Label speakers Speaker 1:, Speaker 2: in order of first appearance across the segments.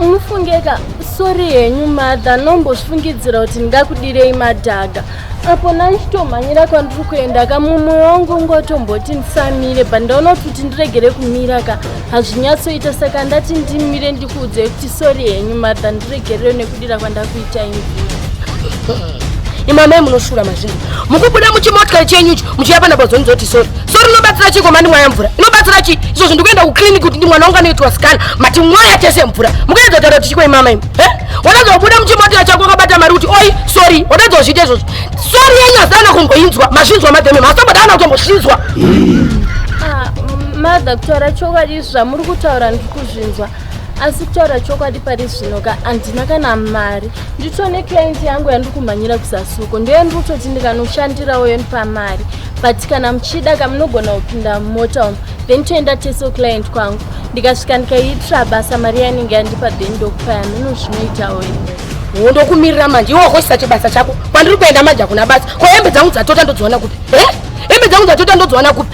Speaker 1: munofungeka sori henyu madha nombozvifungidzira kuti ndingakudirei madhaga apo nanditomhanyira kwandiri kuenda ka mumwe wangu ungotomboti ndisamire but ndaona kuti kuti ndiregere kumira ka hazvinyatsoita saka ndati ndimire ndikuudzei kuti sori henyu madha ndiregerere neku Ndira kwandakuita
Speaker 2: ini. Imamai munoshura mazvinhu. Mukubuda muchimotikari chenyu icho muchiya pana bozoni zoti sorry. Sorry unobatsira chii komandi mwaya mvura? Unobatsira chii? Izvo zvinhu ndikuenda kuclinic kuti ndi mwana wangu anoitwa scan mati mwaya tese mvura. Mukaedza kutaura kuti chikoi mama imi. Eh? Wadadzo kubuda muchimotikari chako wakabata mari kuti oi sorry wadadzo kuzviita izvozvo. Sorry yenyu hazana kumboinzwa mazvinzwa madhemi masombada ana kutombozvinzwa. Ah,
Speaker 1: mother kutaura chokwadi izvi zvamuri kutaura ndiri kuzvinzwa asi kutaura chokwadi pari zvino ka handina kana mari ndito neclient yangu yandiri kumhanyira kusasuko ndoyo ndiri kutoti ndikanoshandirawo yo ndipa mari but kana muchida ka munogona kupinda mumota umu then toenda teso client kwangu ndikasvika ndikaiitira basa mari yanenge yandipa then ndokupa yamino zvinoitawo wo ndokumirira manje iwo
Speaker 2: wakoisa chibasa chako kwandiri kuenda manje hakuna basa ko hembe dzangu dzatota ndodziwana kupi he hembe dzangu dzatota ndodziwana kupi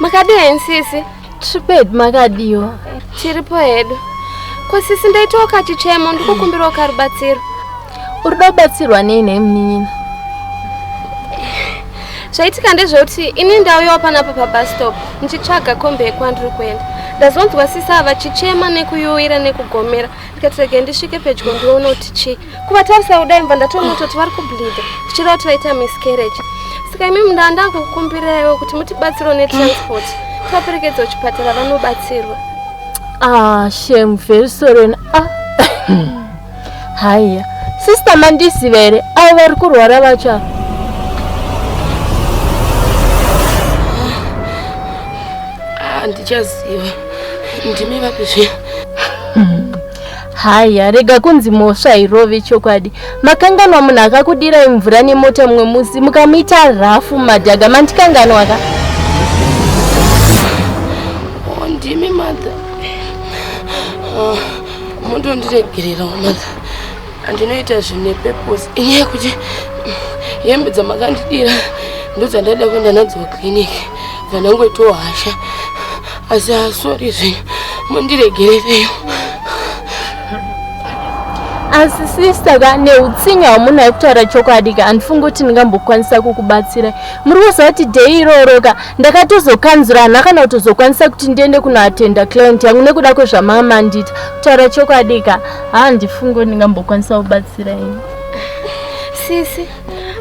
Speaker 3: makadii henyu sisi triped
Speaker 1: makadiwo tiripo
Speaker 3: hedu ko sisi ndaitawo kachichemo ndikukumbirawo karubatsiro uri da
Speaker 1: kubatsirwa nei nhai munin'ina
Speaker 3: zvaitika ndezvekuti ini ndauyawo panapa pabastop ndichitsvaga kombe yekwandiri kuenda ndazonzwa sisi ava chichema nekuyuwira nekugomera ndikatirege ndisvike pedyo ndione kuti chii kuvatarisa kudai mva ndatoona kutoti vari kubleeda zvichireva kuti vaita miscarriage saka imimi ndaa ndakukumbiraiwo kuti mutibatsiro netransport tivaperekedza kuchipatara vanobatsirwa ah
Speaker 1: shem very sorry ah. haya sister mandiziva here avo vari kurwara vacha
Speaker 2: handichaziva ah, ndimi vapi zviya
Speaker 1: Haya, rega kunzi mhosva hairove chokwadi. Makanganwa munhu akakudirai mvura nemota mumwe musi mukamuita rafu madhaga mandikanganwa ka.
Speaker 2: Oh, ndimi mother. Oh, mutondiregererawo mother. Andinoita zvinhu nepurpose inyaya yekuti hembe dzamakandidira ndodzandaida kuenda nadzo kuclinic vanangoitawo hasha asi asori zve mundiregerereyo
Speaker 1: asi sista ka neutsinye hamuna yekutaura chokwadi ka handifungi kuti ndingambokwanisa kukubatsira muri kuzati dei iroro ka ndakatozokanzura hana kana kutozokwanisa kuti ndiende kunoatenda client yangu nekuda kwezvamama mandita kutaura chokwadi ka handifungi kuti ndingambokwanisa kubatsira ini
Speaker 3: sisi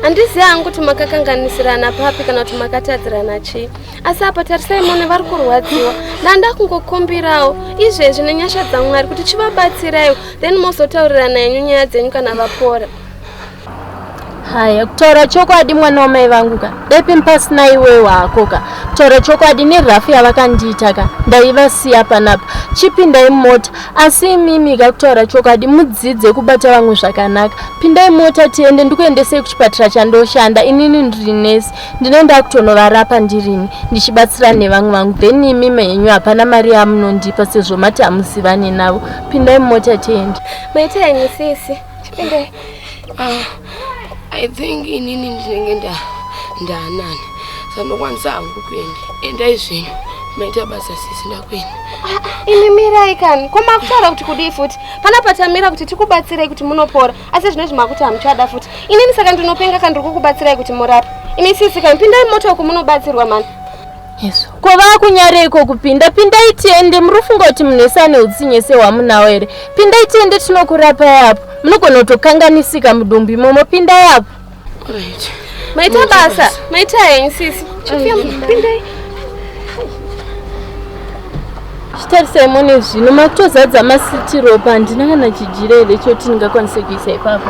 Speaker 3: handizivi hangu kuti makakanganisirana papi kana kuti makatadzirana chii asi apa tarisai mone vari kurwadziwa ndanda kungokumbirawo izvezvi nenyasha dzamwari kuti chivabatsiraiwo then mozotaurirana yenyu nyaya dzenyu kana vapora
Speaker 1: haya kutaura chokwadi mwana wamai vangu ka depi mpasina iwe wako ka kutaura chokwadi nerafu yavakandiita ka ndaivasiya panapa chipindai mota asi imimi ka kutaura chokwadi mudzidze kubata vamwe zvakanaka pindai mota tiende ndikuendesei kuchipatara chandoshanda inini ndiri nesi ndine ndakutonovarapa ndirini ndichibatsira nevamwe vangu then imi menyu hapana mari yamunondipa sezvo mati hamuzivane navo pindai mumota tiende maita henyu
Speaker 3: sisi chipindai
Speaker 2: ah, i think inini ndinenge nda ndaanani sandokwanisa hangu kuenda endai zvenyu maita basa sisi ndakuenda ah, imi
Speaker 3: mirai kani ko makutaura kuti kudii futi pana patamira kuti tikubatsirei kuti munopora asi zvinezvi makuti hamuchada futi inini saka ndinopenga ka ndiri kukubatsirai kuti murape imi sisi ka pindai moto uku munobatsirwa mani yesu ko
Speaker 1: vakunyareiko kupinda pindai tiende muri kufunga kuti munhu wese ane utsinye sehwamunawo here pindai tiende tinokurapai apo munogona kutokanganisika mudumbu imomo pindai apo
Speaker 2: Alright. Maita
Speaker 3: basa. Maita henyu sisi. Pindai.
Speaker 1: Chitarisai mone zvino makutozadza masitiropa handina kana chijira here choti ndingakwanise kuisa ipapo.